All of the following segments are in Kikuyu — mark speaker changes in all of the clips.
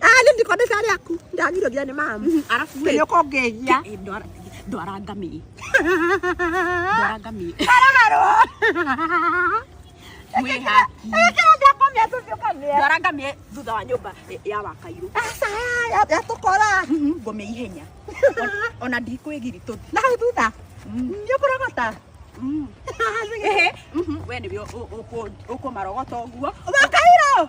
Speaker 1: Ah, nĩ ndiko mbeca rĩaku ndagirwo nginya nĩ mamu Mhm, arabu rĩ, nĩ ũkongĩhia
Speaker 2: eh, ndwara-
Speaker 1: ndwara
Speaker 2: ngamĩĩ ndwara ngamĩĩ mwĩhaki ĩkĩra ndakomia tũbiũkamia ndwara ngamĩĩ thutha wa nyũmba eh, ya wakairũ aca
Speaker 1: yatũkora Mhm, ngome ihenya
Speaker 2: Ona- ona ndikwĩgiri tũthi na hau thutha
Speaker 1: nĩ ũkũrogota Mhm. Ehe,
Speaker 2: mhm, we nĩwe ũkũmarogota ũguo wakairwo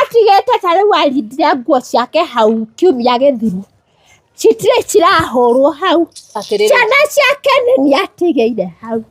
Speaker 3: atigĩte ta rĩu arindire nguo ciake hau kiumia gĩthiru citirĩ cirahũrwo hau Atĩrĩrĩ. ciana ciake nĩ nĩ atigĩire hau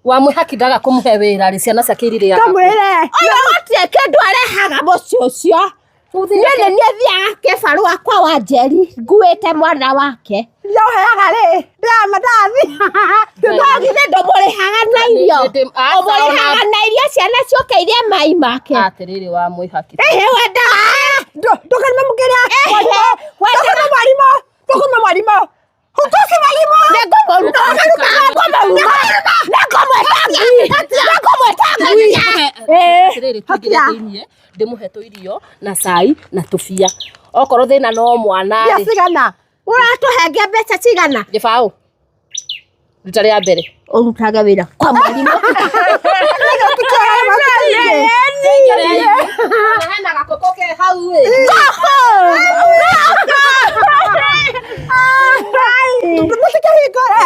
Speaker 3: wamwĩhakithaga
Speaker 4: kũmũhe wĩra rĩ ciana ciake irirĩa kamwĩre ũyũ
Speaker 1: gũtirĩ
Speaker 3: kĩndũ arehaga mũciĩ ũcio nĩ nĩ niĩ thiaga kĩbarũa kwa wanjeri nguĩte mwana wake Yo heaga rĩ
Speaker 1: ndama ndathi ndũtoĩ
Speaker 3: githĩ ndũmũrĩhaga na irio ũmũrĩhaga na irio ciana ciũke irie mai make atĩrĩrĩ wa mwĩhaki
Speaker 4: ehe wenda
Speaker 1: ndũkarima mũkĩrĩa ndũkarima mwarimũ ndũkarima mwarimũ Hutoki mwalimu. Niko mwaruka. Niko mwaruka.
Speaker 3: Niko mweta ngui.
Speaker 4: Niko mweta ngui. Eh. Rĩrĩ tũgire thĩinĩ ndĩmũhe tũirio na cai na tũbia. Okorwo thĩna no mwana rĩ. Ndio sigana.
Speaker 1: ũratũhenge
Speaker 3: mbeca cigana gĩbaũ
Speaker 4: rita rĩa mbere ũrutaga wĩra
Speaker 3: kwa mwarimũ hena
Speaker 4: gakoko ke hau ĩ mũtikahingũre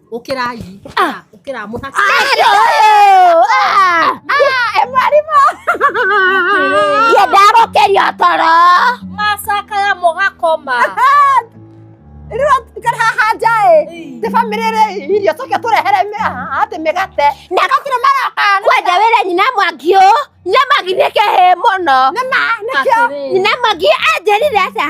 Speaker 4: Ũkĩrai. Ũkĩra- Ũkĩra
Speaker 3: mũthaka. Ye
Speaker 4: ndarokerio toro.
Speaker 3: Macakaya
Speaker 4: mũgakoma.
Speaker 1: Rĩu atikara haha nja ĩ. Ti bamĩrĩ rĩ irio tũke tũrehere mĩ- haha atĩ mĩgate. Na gakira maroka. Kwanja wĩra nyina
Speaker 3: mwangi ũ. Nyina mwangi nĩ kĩhĩ mũno. Nĩ ma nĩkĩo. Atĩrĩ.
Speaker 1: Nyina mwangi
Speaker 3: anjĩrire atĩa?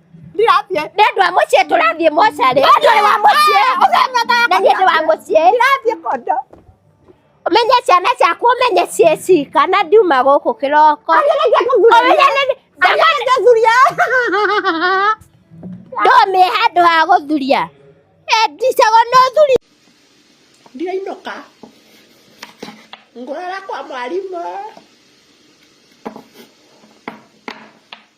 Speaker 1: ndirathiĩ nĩ andũ a mũciĩ
Speaker 3: tũrathiĩ mocarĩ andũ nĩ wa mũciĩ na niĩ ndĩ wa mũciĩ ndirathiĩ kondo ũmenye ciana ciaku ũmenye ciĩ cika na ndiuma gũkũ kĩroko ũmenye nĩ- ndũmĩe ndũmĩe handũ ha gũthuria endicago nĩ ũthuri
Speaker 1: ndirainũka ngũrara kwa mwarimũ